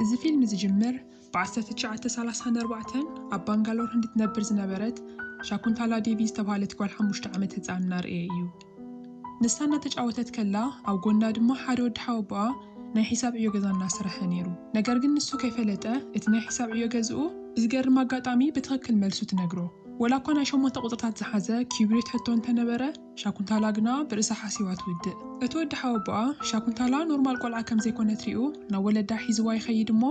እዚ ፊልም ዝጅምር ብ1934 ኣብ ባንጋሎር ህንዲ ትነብር ዝነበረት ሻኩንታላ ዴቪ ዝተብሃለት ጓል ሓሙሽተ ዓመት ህጻን እናርኣየ እዩ። ንሳ እናተጫወተት ከላ ኣብ ጎና ድማ ሓደ ወዲ ሓወቦኣ ናይ ሒሳብ ዕዮ ገዛ እናሰረሐ ነይሩ። ነገር ግን ንሱ ከይፈለጠ እቲ ናይ ሒሳብ ዕዮ ገዝኡ ብዝገርም ኣጋጣሚ ብትኽክል መልሱ ትነግሮ። ወላ እኳ ናይ ሸሞንተ ቁጽርታት ዝሓዘ ኪዩብሪት ሕቶ እንተነበረ፣ ሻኩንታላ ግና ብርእሳ ሓሲባ ትውድእ። እቲ ወዲ ሓወቦኣ ሻኩንታላ ኖርማል ቆልዓ ከም ዘይኮነት ሪኡ ናብ ወለዳ ሒዝዋ ይኸይድ እሞ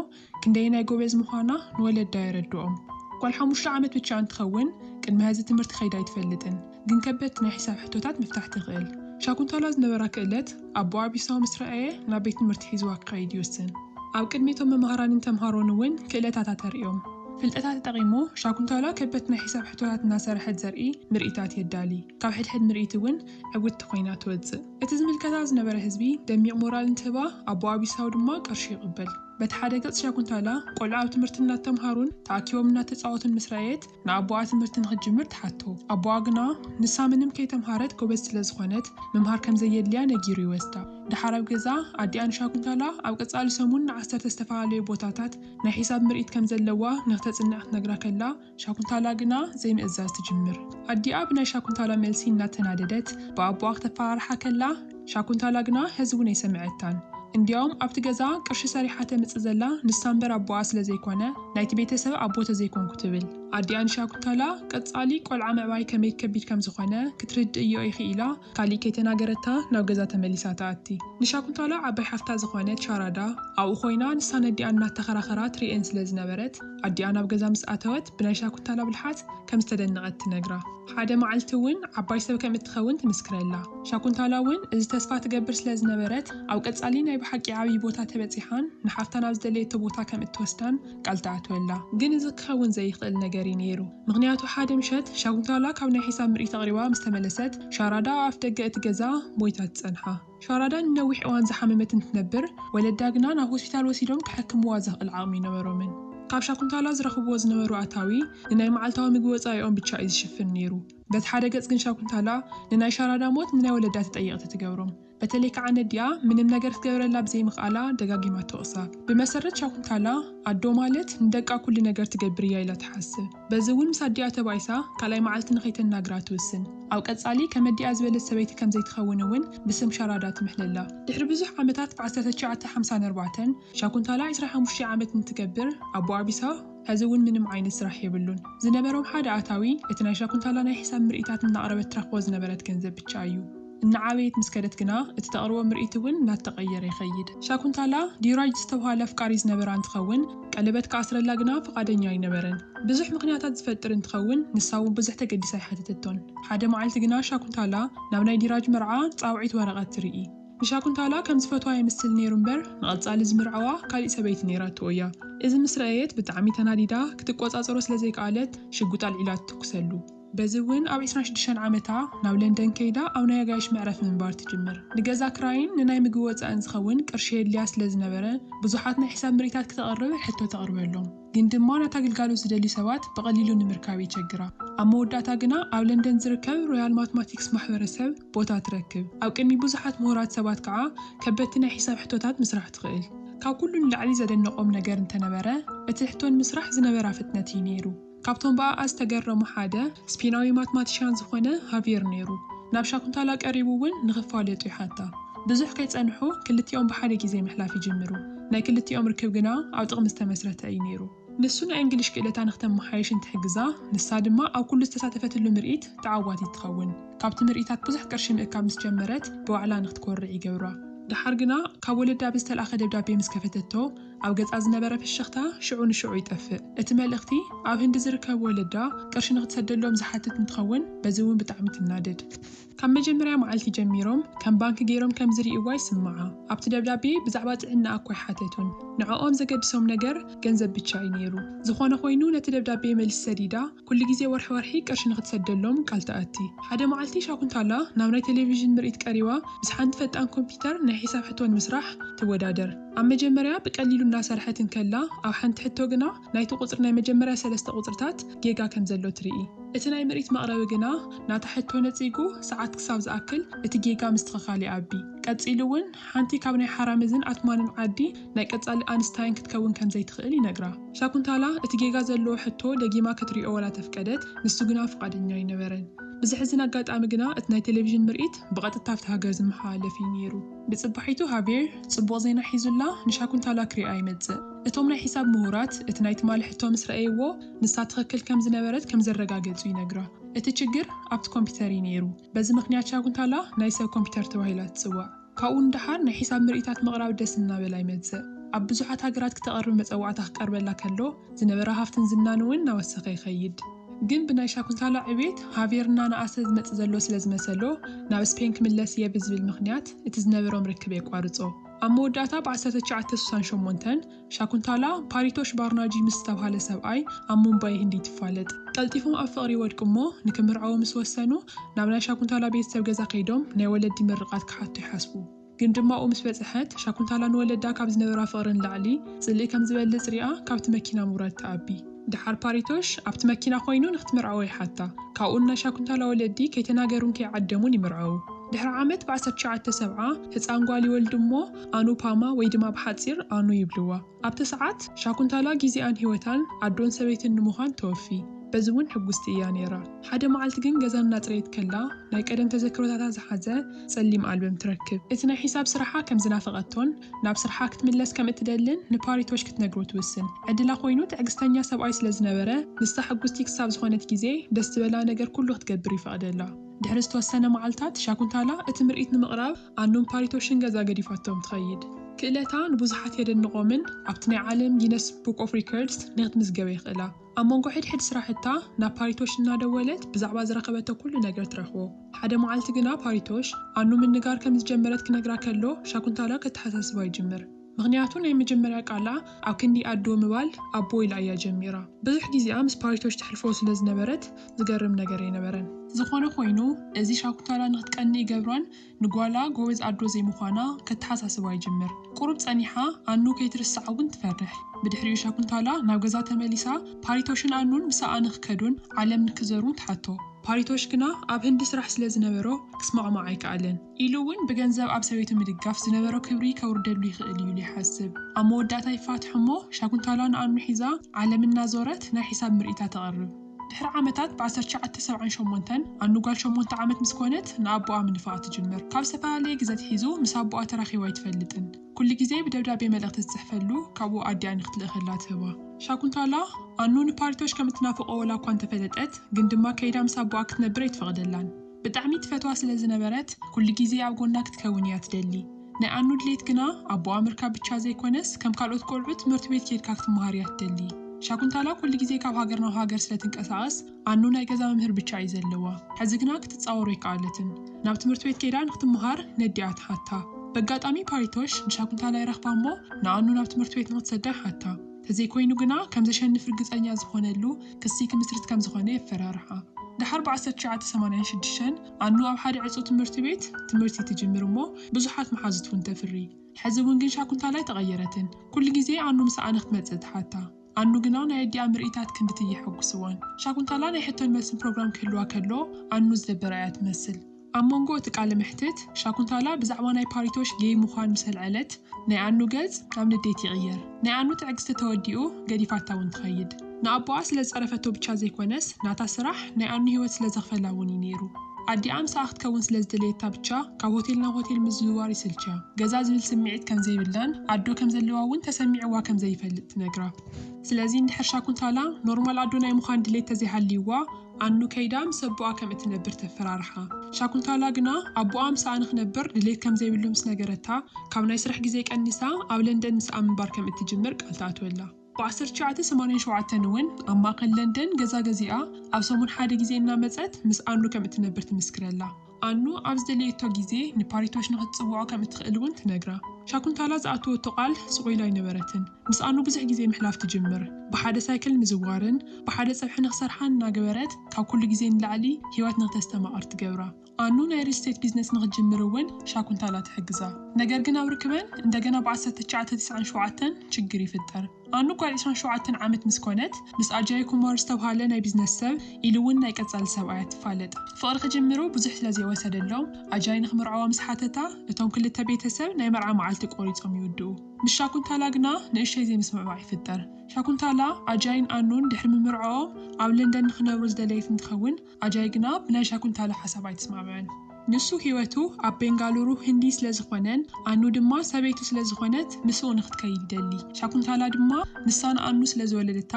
ክንደየናይ ጎበዝ ምዃና ንወለዳ የረድኦም። ጓል ሓሙሽተ ዓመት ብቻ እንትኸውን ቅድሚ ሀዚ ትምህርቲ ከይዳ ኣይትፈልጥን ግን ከበድቲ ናይ ሒሳብ ሕቶታት ምፍታሕ ትኽእል። ሻኩንታላ ዝነበራ ክእለት። ኣቦ ኣቢሳ ምስ ረኣየ ናብ ቤት ትምህርቲ ሒዝዋ ክኸይድ ይውስን። ኣብ ቅድሚ እቶም መማህራንን ተምሃሮን እውን ክእለታታ ተርእዮም። ፍልጠታ ተጠቒሙ ሻኩንታላ ከበድቲ ናይ ሒሳብ ሕቶታት እናሰርሐት ዘርኢ ምርኢታት የዳሊ። ካብ ሕድሕድ ምርኢት እውን ዕውትቲ ኮይና ትወጽእ። እቲ ዝምልከታ ዝነበረ ህዝቢ ደሚቕ ሞራል እንትህባ ኣቦ ኣቢሳው ድማ ቅርሹ ይቕበል። በቲ ሓደ ገጽ ሻኩንታላ ቆልዑ ኣብ ትምህርቲ እናተምሃሩን ተኣኪቦም እናተጻወቱን ምስ ረኣየት ንኣቦኣ ትምህርቲ ንኽትጅምር ትሓቶ። ኣቦኣ ግና ንሳ ምንም ከይተምሃረት ጎበዝ ስለ ዝኾነት ምምሃር ከም ዘየድልያ ነጊሩ ይወስዳ። ደሓር ኣብ ገዛ ኣዲኣ ንሻኩንታላ ኣብ ቀጻሊ ሰሙን ንዓሰርተ ዝተፈላለዩ ቦታታት ናይ ሒሳብ ምርኢት ከም ዘለዋ ንኽተጽንዕ ክትነግራ ከላ ሻኩንታላ ግና ዘይምእዛዝ ትጅምር። ኣዲኣ ብናይ ሻኩንታላ መልሲ እናተናደደት ብኣቦኣ ክተፈራርሓ ከላ፣ ሻኩንታላ ግና ሐዚ እውን ኣይሰመዐታን እንዲያውም ኣብቲ ገዛ ቅርሺ ሰሪሓ ተምፅእ ዘላ ንሳ እምበር ኣቦኣ ስለ ዘይኮነ ናይቲ ቤተሰብ ኣቦ ተዘይኮንኩ ትብል ኣዲኣ ንሻኩንታላ ቀፃሊ ቆልዓ ምዕባይ ከመይ ከቢድ ከም ዝኾነ ክትርድእዮ ኢኺ ኢላ ካሊእ ከይተናገረታ ናብ ገዛ ተመሊሳ ትኣቲ ንሻኩንታላ ዓባይ ሓፍታ ዝኾነት ሻራዳ ኣብኡ ኮይና ንሳን ኣዲኣን እናተኸራኸራ ትሪኤን ስለ ዝነበረት ኣዲኣ ናብ ገዛ ምስ ኣተወት ብናይ ሻኩንታላ ብልሓት ከም ዝተደነቐት ትነግራ ሓደ መዓልቲ እውን ዓባይ ሰብ ከም እትኸውን ትምስክረላ። ሻኩንታላ እውን እዚ ተስፋ ትገብር ስለ ዝነበረት፣ ኣብ ቀጻሊ ናይ ብሓቂ ዓብዪ ቦታ ተበጺሓን ንሓፍታ ናብ ዝደለየቶ ቦታ ከም እትወስዳን ቃል ትኣትወላ። ግን እዚ ክኸውን ዘይክእል ነገር እዩ ነይሩ። ምኽንያቱ ሓደ ምሸት ሻኩንታላ ካብ ናይ ሒሳብ ምርኢት ኣቕሪባ ምስ ተመለሰት፣ ሻራዳ ኣብ ኣፍደገ እቲ ገዛ ሞይታ ትጸንሓ። ሻራዳ ንነዊሕ እዋን ዝሓመመት እንትትነብር፣ ወለዳ ግና ናብ ሆስፒታል ወሲዶም ከሐክምዋ ዘኽእል ዓቕሚ ኣይነበሮምን። ካብ ሻኩንታላ ዝረኽብዎ ዝነበሩ ኣታዊ ንናይ መዓልታዊ ምግቢ ወጻኢኦም ብቻ እዩ ዝሽፍን ነይሩ። በቲ ሓደ ገጽ ግን ሻኩንታላ ንናይ ሻራዳ ሞት ንናይ ወለዳ ተጠየቕቲ ትገብሮም። በተለይ ከኣ ነዲኣ ምንም ነገር ክትገብረላ ብዘይምኽኣላ ደጋጊማ ትወቕሳ። ብመሰረት ሻኩንታላ ኣዶ ማለት ንደቃ ኩሉ ነገር ትገብር እያ ኢላ ትሓስብ። በዚ እውን ምስ ኣዲኣ ተባኢሳ ካልኣይ መዓልቲ ንኸይተናግራ ትውስን። ኣብ ቀጻሊ ከመዲኣ ዝበለት ሰበይቲ ከም ዘይትኸውን እውን ብስም ሻራዳ ትምሕለላ። ድሕሪ ብዙሕ ዓመታት ብ ዓሰርተ ትሽዓተ ሓምሳን ኣርባዕተን፣ ሻኩንታላ ዕስራ ሓሙሽተ ዓመት እንትገብር ኣቦኣ ቢሳ፣ ሕዚ እውን ምንም ዓይነት ስራሕ የብሉን። ዝነበሮም ሓደ ኣታዊ እቲ ናይ ሻኩንታላ ናይ ሕሳብ ምርኢታት እናቕረበት ትረኽቦ ዝነበረት ገንዘብ ብቻ እዩ። እናዓበየት ምስ ከደት ግና እቲ ተቕርቦ ምርኢት እውን እናተቐየረ ይኸይድ። ሻኩንታላ፣ ዲራጅ ዝተብሃለ ኣፍቃሪ ዝነበራ እንትኸውን፣ ቀለበት ክኣስረላ ግና ፍቓደኛ ኣይነበረን። ብዙሕ ምኽንያታት ዝፈጥር እንትኸውን፣ ንሳ እውን ብዙሕ ተገዲሳ ኣይሓተተቶን። ሓደ መዓልቲ ግና ሻኩንታላ ናብ ናይ ዲራጅ መርዓ ጻውዒት ወረቐት ትርኢ። ንሻኩንታላ ከም ዝፈትዋ የምስል ነይሩ እምበር ንቐጻሊ ዝምርዐዋ ካሊእ ሰበይቲ ነይራቶ እያ። እዚ ምስ ረኣየት ብጣዕሚ ተናዲዳ ክትቆጻጸሮ ስለ ዘይከኣለት ሽጉጥ ኣልዒላ ትትኩሰሉ። በዚ እውን ኣብ ዕስራን ሽዱሽተን ዓመታ ናብ ለንደን ከይዳ ኣብ ናይ ኣጋይሽ መዕረፊ ምንባር ትጅምር። ንገዛ ክራይን ንናይ ምግቢ ወፃእን ዝኸውን ቅርሺ የድልያ ስለ ዝነበረ ብዙሓት ናይ ሕሳብ ምርኢታት ክተቕርብ ሕቶ ተቕርበሎም። ግን ድማ ነታ ግልጋሎት ዝደልዩ ሰባት ብቐሊሉ ንምርካብ የቸግራ። ኣብ መወዳእታ ግና ኣብ ለንደን ዝርከብ ሮያል ማትማቲክስ ማሕበረሰብ ቦታ ትረክብ። ኣብ ቅድሚ ብዙሓት ምሁራት ሰባት ከዓ ከበድቲ ናይ ሒሳብ ሕቶታት ምስራሕ ትኽእል። ካብ ኩሉ ንላዕሊ ዘደነቖም ነገር እንተነበረ እቲ ሕቶ ንምስራሕ ዝነበራ ፍጥነት እዩ ነይሩ። ካብቶም ብኣኣ ዝተገረሙ ሓደ፣ ስፔናዊ ማትማቲሽያን ዝኾነ ሃቪየር ነይሩ። ናብ ሻኩንታላ ቀሪቡ እውን ንኽፋለጡ ይሓታ። ብዙሕ ከይጸንሑ ክልቲኦም ብሓደ ግዜ ምሕላፍ ይጅምሩ። ናይ ክልቲኦም ርክብ ግና ኣብ ጥቕሚ ዝተመስረተ እዩ ነይሩ። ንሱ ናይ እንግሊሽ ክእለታ ንኽተመሓይሽ እንትሕግዛ፣ ንሳ ድማ ኣብ ኩሉ ዝተሳተፈትሉ ምርኢት ተዓዋቲት ትኸውን። ካብቲ ምርኢታት ብዙሕ ቅርሺ ምእካብ ምስ ጀመረት ብባዕላ ንኽትኮርዕ ይገብራ። ደሓር ግና ካብ ወለዳ ብዝተልኣኸ ደብዳቤ ምስ ከፈተቶ፣ ኣብ ገጻ ዝነበረ ፍሽኽታ ሽዑ ንሽዑ ይጠፍእ። እቲ መልእኽቲ፣ ኣብ ህንዲ ዝርከብ ወለዳ ቅርሺ ንኽትሰደሎም ዝሓትት እንትኸውን፣ በዚ እውን ብጣዕሚ ትናደድ። ካብ መጀመርያ መዓልቲ ጀሚሮም ከም ባንኪ ገይሮም ከም ዝርእይዋ ይስምዓ። ኣብቲ ደብዳቤ ብዛዕባ ጥዕናኣ እኳ ኣይሓተቱን። ንዕኦም ዘገድሶም ነገር ገንዘብ ብቻ እዩ ነይሩ። ዝኾነ ኾይኑ ነቲ ደብዳቤ መልሲ ሰዲዳ ኩሉ ግዜ ወርሒ ወርሒ ቅርሺ ንኽትሰደሎም ቃል ትኣቲ። ሓደ መዓልቲ ሻኩንታላ ናብ ናይ ተሌቪዥን ምርኢት ቀሪባ ምስ ሓንቲ ፈጣን ኮምፒተር ናይ ሒሳብ ሕቶ ንምስራሕ ትወዳደር። ኣብ መጀመርያ ብቀሊሉ እናሰርሐት እንከላ ኣብ ሓንቲ ሕቶ ግና ናይቲ ቁጽሪ ናይ መጀመርያ ሰለስተ ቁጽርታት ጌጋ ከም ዘሎ ትርኢ። እቲ ናይ ምርኢት መቕረቢ ግና ናታ ሕቶ ነጺጉ ሰዓት ክሳብ ዝኣክል እቲ ጌጋ ምስትኽኻል ይኣቢ። ቀጺሉ እውን ሓንቲ ካብ ናይ ሓራምዝን ኣትማንን ዓዲ፣ ናይ ቀጻሊ ኣንስታይን ክትከውን ከም ዘይትኽእል ይነግራ። ሻኩንታላ እቲ ጌጋ ዘለዎ ሕቶ ደጊማ ክትሪኦ ዋላ ተፍቀደት፣ ንሱ ግና ፍቓደኛ ኣይነበረን። ብዘሕዝን ኣጋጣሚ ግና እቲ ናይ ቴሌቪዥን ምርኢት ብቐጥታ ኣብቲ ሃገር ዝመሓላለፍ እዩ ነይሩ። ብጽባሒቱ ሃቬር ጽቡቕ ዜና ሒዙላ ንሻኩንታላ ክሪኣ ይመጽእ። እቶም ናይ ሒሳብ ምሁራት እቲ ናይ ትማሊ ሕቶ ምስ ረኣይዎ ንሳ ትኽክል ከም ዝነበረት ከም ዘረጋገጹ ይነግራ። እቲ ችግር ኣብቲ ኮምፒተር እዩ ነይሩ። በዚ ምኽንያት ሻኩንታላ ናይ ሰብ ኮምፒተር ተባሂላ ትጽዋዕ። ካብኡ ንደሓር ናይ ሒሳብ ምርኢታት ምቕራብ ደስ እናበላ ይመጽእ። ኣብ ብዙሓት ሃገራት ክተቐርብ መጸዋዕታ ክቀርበላ ከሎ ዝነበራ ሃፍትን ዝናን እውን እናወሰኸ ይኸይድ። ግን ብናይ ሻኩንታላ ዕብየት ሃቬር እናነኣሰ ዝመጽእ ዘሎ ስለ ዝመሰሎ ናብ ስፔን ክምለስ እየ ብዝብል ምኽንያት እቲ ዝነበሮም ርክብ የቋርጾ። ኣብ መወዳእታ ብ ዓሰርተ ትሽዓተ ስሳን ሸሞንተን፣ ሻኩንታላ ፓሪቶሽ ባርናጂ ምስ ዝተብሃለ ሰብኣይ ኣብ ሙምባይ ህንዲ ትፋለጥ። ቀልጢፎም ኣብ ፍቕሪ ይወድቁ'ሞ ንክምርዓዉ ምስ ወሰኑ፣ ናብ ናይ ሻኩንታላ ቤተሰብ ገዛ ከይዶም ናይ ወለዲ ምርቓት ክሓቱ ይሓስቡ። ግን ድማ ኣብኡ ምስ በጽሐት፣ ሻኩንታላ ንወለዳ ካብ ዝነበራ ፍቕሪ ንላዕሊ ጽልኢ ከም ዝበልጽ ሪኣ ካብቲ መኪና ምውራድ ትኣቢ። ደሓር ፓሪቶሽ ኣብቲ መኪና ኮይኑ ንክትምርዐዎ ይሓታ። ካብኡ ንናሻ ኩንታላ ወለዲ ከይተናገሩን ከይዓደሙን ይምርዐዉ። ድሕሪ ዓመት ብ ዓሰርተ ትሽዓተ ሰብዓ ህጻን ጓል ይወልዱ እሞ ኣኑፓማ ወይ ድማ ብሓጺር ኣኑ ይብልዋ። ኣብቲ ሰዓት ሻኩንታላ ጊዜኣን ሂወታን ኣዶን ሰበይትን ንምዃን ተወፊ። በዚ እውን ሕጉስቲ እያ ነይራ። ሓደ መዓልቲ ግን ገዛ እናጽረየት ከላ ናይ ቀደም ተዘክሮታታ ዝሓዘ ጸሊም ኣልበም ትረክብ። እቲ ናይ ሒሳብ ስራሓ ከም ዝናፈቐቶን ናብ ስርሓ ክትምለስ ከም እትደልን ንፓሪቶሽ ክትነግሮ ትውስን። ዕድላ ኮይኑ ትዕግስተኛ ሰብኣይ ስለ ዝነበረ ንሳ ሕጉስቲ ክሳብ ዝኾነት ግዜ ደስ ዝበላ ነገር ኩሉ ክትገብር ይፈቕደላ። ድሕሪ ዝተወሰነ መዓልታት ሻኩንታላ እቲ ምርኢት ንምቕራብ ኣኑን ፓሪቶሽን ገዛ ገዲፋቶም ትኸይድ። ክእለታ ንብዙሓት የደንቖምን ኣብቲ ናይ ዓለም ጊነስ ቡክ ኦፍ ሪከርድስ ንክትምዝገበ የኽእላ። ኣብ መንጎ ሕድሕድ ስራሕታ ናብ ፓሪቶሽ እናደወለት ብዛዕባ ዝረኸበቶ ኩሉ ነገር ትረኽቦ። ሓደ መዓልቲ ግና ፓሪቶሽ ኣኑ ምንጋር ከም ዝጀመረት ክነግራ ከሎ ሻኩንታላ ከተሓሳስባ ይጅምር። ምኽንያቱ ናይ መጀመርያ ቃላ ኣብ ክንዲ ኣዶ ምባል ኣቦ ኢላ እያ ጀሚራ። ብዙሕ ግዜኣ ምስ ፓሪቶሽ ተሕልፎ ስለ ዝነበረት ዝገርም ነገር ኣይነበረን። ዝኾነ ኾይኑ እዚ ሻኩንታላ ንኽትቀንእ ይገብራን ንጓላ ጎበዝ ኣዶ ዘይምዃና ከተሓሳስባ ይጅምር። ቁሩብ ጸኒሓ ኣኑ ከይትርስዓ እውን ትፈርሕ። ብድሕሪኡ ሻኩንታላ ናብ ገዛ ተመሊሳ ፓሪቶሽን ኣኑን ምሳኣ ንክከዱን ዓለም ንክዘሩን ትሓቶ። ፓሪቶሽ ግና ኣብ ህንዲ ስራሕ ስለ ዝነበሮ ክስማዕማዕ ኣይከኣለን። ኢሉ እውን ብገንዘብ ኣብ ሰበይቱ ምድጋፍ ዝነበሮ ክብሪ ከውርደሉ ይኽእል እዩ ኢሉ ይሓስብ። ኣብ መወዳእታ ይፋትሑ እሞ ሻኩንታላ ንኣኑ ሒዛ ዓለም እናዞረት ናይ ሒሳብ ምርኢታ ተቕርብ። ድሕሪ ዓመታት ብ ዓሰርተ ትሽዓተ ሰብዓን ሸሞንተን ኣኑ ጓል ሸሞንተ ዓመት ምስ ኮነት ንኣቡኣ ምንፋቕ ትጅምር። ካብ ዝተፈላለየ ግዘ ኣትሒዙ ምስ ኣቡኣ ተራኺቡ ኣይትፈልጥን። ኩሉ ግዜ ብደብዳቤ መልእኽቲ ዝጽሕፈሉ ካብኡ ኣዲኣ ንክትልእኸላ ትህባ። ሻኩንታላ፣ ኣኑ ንፓሪቶሽ ከም እትናፍቖ ወላ እኳ እንተፈለጠት ግን ድማ ከይዳ ምስ ኣቡኣ ክትነብር ኣይትፈቕደላን። ብጣዕሚ ትፈትዋ ስለ ዝነበረት ኩሉ ግዜ ኣብ ጎና ክትከውን እያ ትደሊ። ናይ ኣኑ ድሌት ግና ኣቦኣ ምርካብ ብቻ ዘይኮነስ ከም ካልኦት ቆልዑ ትምህርቲ ቤት ኬድካ ክትመሃር እያ ትደሊ። ሻኩንታላ ኩሉ ግዜ ካብ ሃገር ናብ ሃገር ስለ ትንቀሳቀስ ኣኑ ናይ ገዛ መምህር ብቻ እዩ ዘለዋ። ሕዚ ግና ክትጻወሮ ኣይከኣለትን። ናብ ትምህርቲ ቤት ኬዳ ንክትመሃር ነዲኣ ትሓታ። በጋጣሚ ፓሪቶሽ ንሻኩንታላ ይረክባ እሞ ንኣኑ ናብ ትምህርቲ ቤት ንክትሰዳ ይሓታ። ተዘይኮይኑ ግና ከም ዘሸንፍ ርግጸኛ ዝኾነሉ ክሲ ክምስርት ከም ዝኾነ የፈራርሓ። ደሓር ብ ዓሰርተ ትሽዓተ ሰማንያን ሽዱሽተን ኣኑ ኣብ ሓደ ዕጹው ትምህርቲ ቤት ትምህርቲ ትጅምር እሞ ብዙሓት መሓዙት እውን ተፍሪ። ሕዚ እውን ግን ሻኩንታል ኣይተቐየረትን። ኩሉ ግዜ ኣኑ ምስ ኣነ ክትመጽእ ትሓታ። ኣኑ ግና ናይ ኣዲኣ ምርኢታት ክንድቲ እየሐጉስዋን። ሻኩንታላ ናይ ሕቶን መልስን ፕሮግራም ክህልዋ ከሎ ኣኑ ዝደበራ እያ ትመስል። ኣብ መንጎ እቲ ቃለ መሕትት፣ ሻኩንታላ ብዛዕባ ናይ ፓሪቶሽ ጌይ ምዃን ምስ ኣልዐለት፣ ናይ ኣኑ ገጽ ናብ ንዴት ይቕየር። ናይ ኣኑ ትዕግስቲ ተወዲኡ፣ ገዲፋታ እውን ትኸይድ። ንኣቦኣ ስለ ዝጸረፈቶ ብቻ ዘይኮነስ፣ ናታ ስራሕ ናይ ኣኑ ህይወት ስለ ዘኽፈላ እውን እዩ ነይሩ። ኣዲኣ ምሳኣ ክትከውን ስለ ዝደለየታ ብቻ፣ ካብ ሆቴል ናብ ሆቴል ምዝውዋር ይስልችያ። ገዛ ዝብል ስምዒት ከም ዘይብላን ኣዶ ከም ዘለዋ እውን ተሰሚዕዋ ከም ዘይፈልጥ ትነግራ። ስለዚ እንድሕር ሻኩንታላ ኖርማል ኣዶ ናይ ምዃን ድሌት ተዘይሃልይዋ፣ ኣኑ ከይዳ ምስ ኣቦኣ ከም እትነብር ተፈራርሓ። ሻኩንታላ ግና ኣቦኣ ምሳኣ ንኽነብር ድሌት ከም ዘይብሉ ምስ ነገረታ፣ ካብ ናይ ስራሕ ግዜ ቀኒሳ ኣብ ለንደን ምስኣ ምንባር ከም እትጅምር ቃል ትኣትወላ። ብ ዓሰርተ ትሽዓተ ሰማንያን ሸውዓተን እውን ኣብ ማእከል ለንደን ገዛ ገዚኣ ኣብ ሰሙን ሓደ ግዜ እናመጸት ምስ ኣኑ ከም እትነብር ትምስክረላ። ኣኑ ኣብ ዝደለየቶ ግዜ ንፓሪቶሽ ንኽትጽውዖ ከም እትኽእል እውን ትነግራ። ሻኩንታላ ዝኣተወቶ ቃል ስቕ ኢሉ ኣይነበረትን። ምስ ኣኑ ብዙሕ ግዜ ምሕላፍ ትጅምር። ብሓደ ሳይክል ምዝዋርን ብሓደ ጸብሒ ንኽሰርሓን እናገበረት ካብ ኩሉ ግዜ ንላዕሊ ህይወት ንኽተስተማቕር ትገብራ። ኣኑ ናይ ሪል ስቴት ቢዝነስ ንኽትጅምር እውን ሻኩንታላ ትሕግዛ። ነገር ግን ኣብ ርክበን እንደገና ብ ዓሰርተ ትሽዓተ ትስዓን ሸውዓተን ችግር ይፍጠር። ኣኑ ጓል ዕስራን ሸውዓተን ዓመት ምስ ኮነት፣ ምስ ኣጃይ ኩማር ዝተብሃለ ናይ ቢዝነስ ሰብ ኢሉ ውን ናይ ቀጻሊ ሰብኣያ ትፋለጥ። ፍቕሪ ክጅምሩ ብዙሕ ስለ ዘይወሰደሎም፣ ኣጃይ ንኽምርዓዋ ምስ ሓተታ፣ እቶም ክልተ ቤተሰብ ናይ መርዓ መዓልቲ ቆሪጾም ይውድኡ። ምስ ሻኩንታላ ግና ንእሽተይ ዘይምስምዕማዕ ይፍጠር። ሻኩንታላ፣ ኣጃይን ኣኑን ድሕሪ ምምርዐኦም ኣብ ለንደን ንኽነብሩ ዝደለየት እንትኸውን፣ ኣጃይ ግና ብናይ ሻኩንታላ ሓሳብ ኣይትስማዕምዕን ንሱ ሂወቱ ኣብ ቤንጋሉሩ ህንዲ ስለ ዝኾነን ኣኑ ድማ ሰበይቱ ስለ ዝኾነት ምስኡ ንኽትከይድ ይደሊ ሻኩንታላ ድማ ንሳ ንኣኑ ስለ ዝወለደታ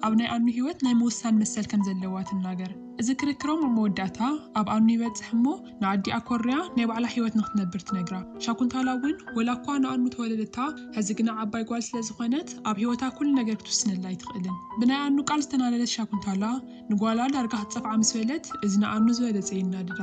ኣብ ናይ ኣኑ ሂወት ናይ ምውሳን መሰል ከም ዘለዋ ትናገር እዚ ክርክሮም ኣብ መወዳእታ ኣብ ኣኑ ይበጽሕ እሞ ንኣዲኣ ኮርያ ናይ ባዕላ ሂወት ንኽትነብር ትነግራ ሻኩንታላ ውን ወላ እኳ ንኣኑ ተወለደታ ሐዚ ግና ዓባይ ጓል ስለ ዝኾነት ኣብ ሂወታ ኩሉ ነገር ክትውስነላ ኣይትኽእልን ብናይ ኣኑ ቃል ዝተናደደት ሻኩንታላ ንጓላ ዳርጋ ክትጸፍዓ ምስ በለት እዚ ንኣኑ ዝበለጸ የናድዳ።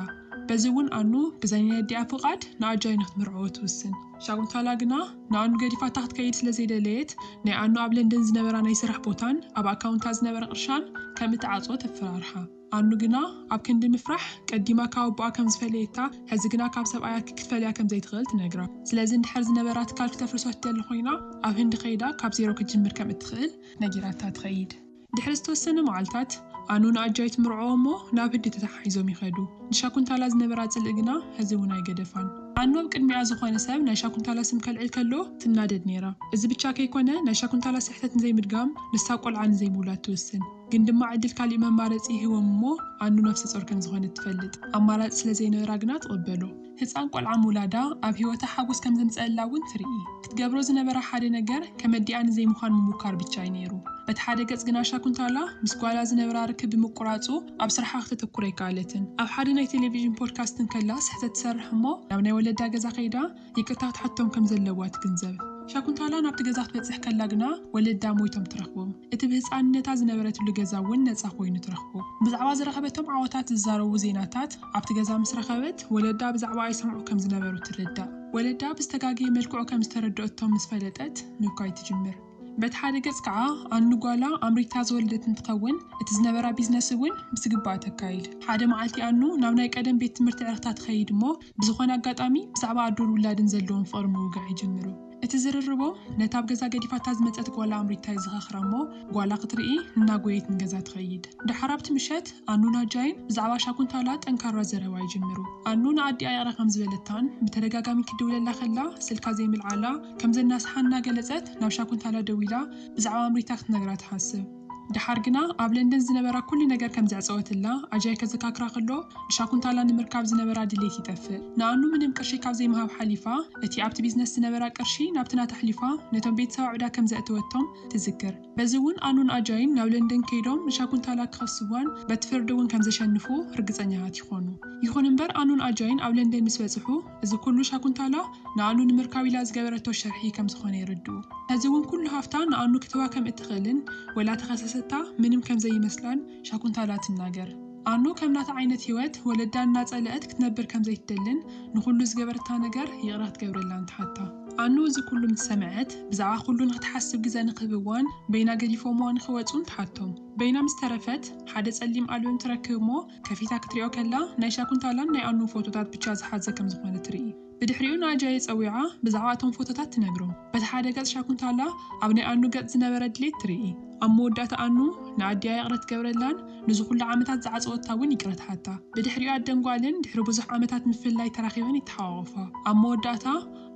በዚ እውን ኣኑ ብዘይ ናይ ኣዲኣ ፍቓድ ንኣጃይ ንክትምርዐዎ ትውስን። ሻቁንታላ ግና ንኣኑ ገዲፋታ ክትከይድ ስለ ዘይደለየት ናይ ኣኑ ኣብ ለንደን ዝነበራ ናይ ስራሕ ቦታን ኣብ ኣካውንታ ዝነበረ ቅርሻን ከም እትዓጽዎ ተፈራርሓ። ኣኑ ግና ኣብ ክንዲ ምፍራሕ ቀዲማ ካብ ኣቦኣ ከም ዝፈለየታ ሕዚ ግና ካብ ሰብኣያ ክትፈልያ ከም ዘይትኽእል ትነግራ። ስለዚ እንድሕር ዝነበራ ትካል ክተፍርሶ ትደሊ ኮይና ኣብ ህንዲ ከይዳ ካብ ዜሮ ክትጅምር ከም እትኽእል ነጊራታ ትኸይድ። ድሕሪ ዝተወሰነ መዓልታት፣ ኣኑ ንኣጃይ ትምርዖ እሞ ናብ ህዲ ተተሓሒዞም ይኸዱ። ንሻኩንታላ ዝነበራ ጽልኢ ግና ሕዚ እውን ኣይገደፋን። ኣኑ ኣብ ቅድሚኣ ዝኾነ ሰብ ናይ ሻኩንታላ ስም ከልዕል ከሎ ትናደድ ነይራ። እዚ ብቻ ከይኮነ ናይ ሻኩንታላ ስሕተት ንዘይምድጋም ንሳ ቆልዓ ንዘይምውላድ ትውስን። ግን ድማ ዕድል ካሊእ መማረጺ ይህቦም እሞ ኣኑ ነፍሰጾር ከምዝኾነት ትፈልጥ። ኣማራጺ ስለዘይነበራ ግና ትቕበሎ። ህጻን ቆልዓ ምውላዳ ኣብ ህይወታ ሓጎስ ከም ዘምጸኣላ እውን ትርኢ። ክትገብሮ ዝነበራ ሓደ ነገር ከመዲኣ ንዘይምዃን ምሙካር ብቻ እዩ ነይሩ። በቲ ሓደ ገጽ ግና ሻኩንታላ ምስ ጓላ ዝነበራ ርክብ ብምቁራጹ ኣብ ስርሓ ክተተኩር ኣይከኣለትን። ኣብ ሓደ ናይ ቴሌቪዥን ፖድካስት እንከላ ስሕተት ትሰርሕ እሞ ናብ ናይ ወለዳ ገዛ ከይዳ ይቅርታ ክትሓቶም ከም ዘለዋ ትግንዘብ። ሻኩንታላ ናብቲ ገዛ ክትበጽሕ ከላ ግና ወለዳ ሞይቶም ትረኽቦም። እቲ ብህጻንነታ ዝነበረትሉ ገዛ እውን ነጻ ኮይኑ ትረኽቦ። ብዛዕባ ዝረኸበቶም ዓወታት ዝዛረቡ ዜናታት፣ ኣብቲ ገዛ ምስ ረኸበት፣ ወለዳ ብዛዕባኣ ይሰምዑ ከም ዝነበሩ ትርዳእ። ወለዳ ብዝተጋገየ መልክዑ ከም ዝተረድኦቶም ምስ ፈለጠት፣ ምብኳይ ትጅምር። በቲ ሓደ ገጽ ከኣ፣ ኣን ንጓላ ኣምሪታ ዝወለደት እንትኸውን፣ እቲ ዝነበራ ቢዝነስ እውን ብዝግባእ ተካይድ። ሓደ መዓልቲ ኣኑ ናብ ናይ ቀደም ቤት ትምህርቲ ዕረኽታ ትኸይድ እሞ፣ ብዝኾነ ኣጋጣሚ ብዛዕባ ኣዶን ውላድን ዘለዎም ፍቕሪ ምውጋዕ ይጅምሩ። እቲ ዝርርቦ ነታ ኣብ ገዛ ገዲፋታ ዝመጸት ጓላ ኣምሪታ የዘኻኽራ እሞ ጓላ ክትርኢ እናጎየየት ንገዛ ትኸይድ። ደሓር ኣብቲ ምሸት ኣኑን ኣጃይን ብዛዕባ ሻኩንታላ ጠንካራ ዘረባ ይጅምሩ። ኣኑ ንኣዲኣ ይቕረ ከም ዝበለታን ብተደጋጋሚ ክትድውለላ ከላ ስልካ ዘይምልዓላ ከም ዘናስሓን እናገለጸት ናብ ሻኩንታላ ደዊላ ብዛዕባ ኣምሪታ ክትነግራ ትሓስብ። ደሓር ግና ኣብ ለንደን ዝነበራ ኩሉ ነገር ከም ዘዕጸወትላ ኣጃይ ከዘካክራ ከሎ፣ ንሻኩንታላ ንምርካብ ዝነበራ ድሌት ይጠፍእ። ንኣኑ ምንም ቅርሺ ካብ ዘይምሃብ ሓሊፋ፣ እቲ ኣብቲ ቢዝነስ ዝነበራ ቅርሺ ናብቲ ናታ ኣሕሊፋ ነቶም ቤተሰባ ዕዳ ከም ዘእተወቶም ትዝክር። በዚ እውን ኣኑን ኣጃይን ናብ ለንደን ከይዶም ንሻኩንታላ ክኸስዋን በቲ ፍርዲ እውን ከም ዘሸንፉ ርግጸኛታት ይኾኑ። ይኹን እምበር ኣኑን ኣጃይን ኣብ ለንደን ምስ በጽሑ፣ እዚ ኩሉ ሻኩንታላ ንኣኑ ንምርካብ ኢላ ዝገበረቶ ሸርሒ ከም ዝኾነ የረድኡ። ሕዚ እውን ኩሉ ሃፍታ ንኣኑ ክትህባ ከም እትኽእልን ወላ ተኸሰሰታ ምንም ከም ዘይመስላን ሻኩንታላ ትናገር። ኣኑ ከም ናታ ዓይነት ህይወት ወለዳ እናጸለእት ክትነብር ከም ዘይትደልን ንኹሉ ዝገበረታ ነገር ይቕረ ክትገብረላን ትሓታ። ኣኑ እዚ ኩሉ ምስ ሰምዐት ብዛዕባ ኩሉ ንኽትሓስብ ግዘ ንኽህብዋን በይና ገዲፎምዋ ንኽወጹን ትሓቶም። በይና ምስ ተረፈት ሓደ ጸሊም ኣልበም ትረክብ እሞ ከፊታ ክትሪኦ ከላ ናይ ሻኩንታላን ናይ ኣኑን ፎቶታት ብቻ ዝሓዘ ከም ዝኾነ ትርኢ። ብድሕሪኡ ንኣጃየ ጸዊዓ ብዛዕባ እቶም ፎቶታት ትነግሮ። በቲ ሓደ ገጽ ሻኩንታላ ኣብ ናይ ኣኑ ገጽ ዝነበረ ድሌት ትርኢ። ኣብ መወዳእታ ኣኑ ንኣዲኣ ይቕረ ትገብረላን ንዚ ኩሉ ዓመታት ዝዓጸወታ ውን ይቅረ ትሓታ። ብድሕሪኡ ኣደን ጓልን ድሕሪ ብዙሕ ዓመታት ምፍልላይ ተራኺበን ይተሓቋቖፋ። ኣብ መወዳእታ።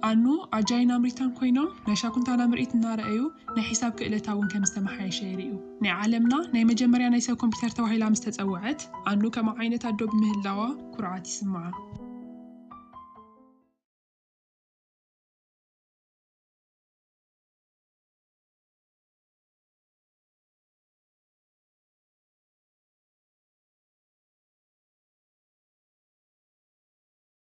ኣኖ ኣጃይን ኣምሪታን ኮይኖም ናይ ሻኩንታና ምርኢት እናረኣዩ ናይ ሒሳብ ክእለታ እውን ከም ዝተመሓየሸ የርእዩ። ናይ ዓለምና ናይ መጀመርያ ናይ ሰብ ኮምፒተር ተባሂላ ምስ ተጸውዐት ኣኖ ከምኣ ዓይነት ኣዶ ብምህላዋ ኩርዓት ይስምዓ።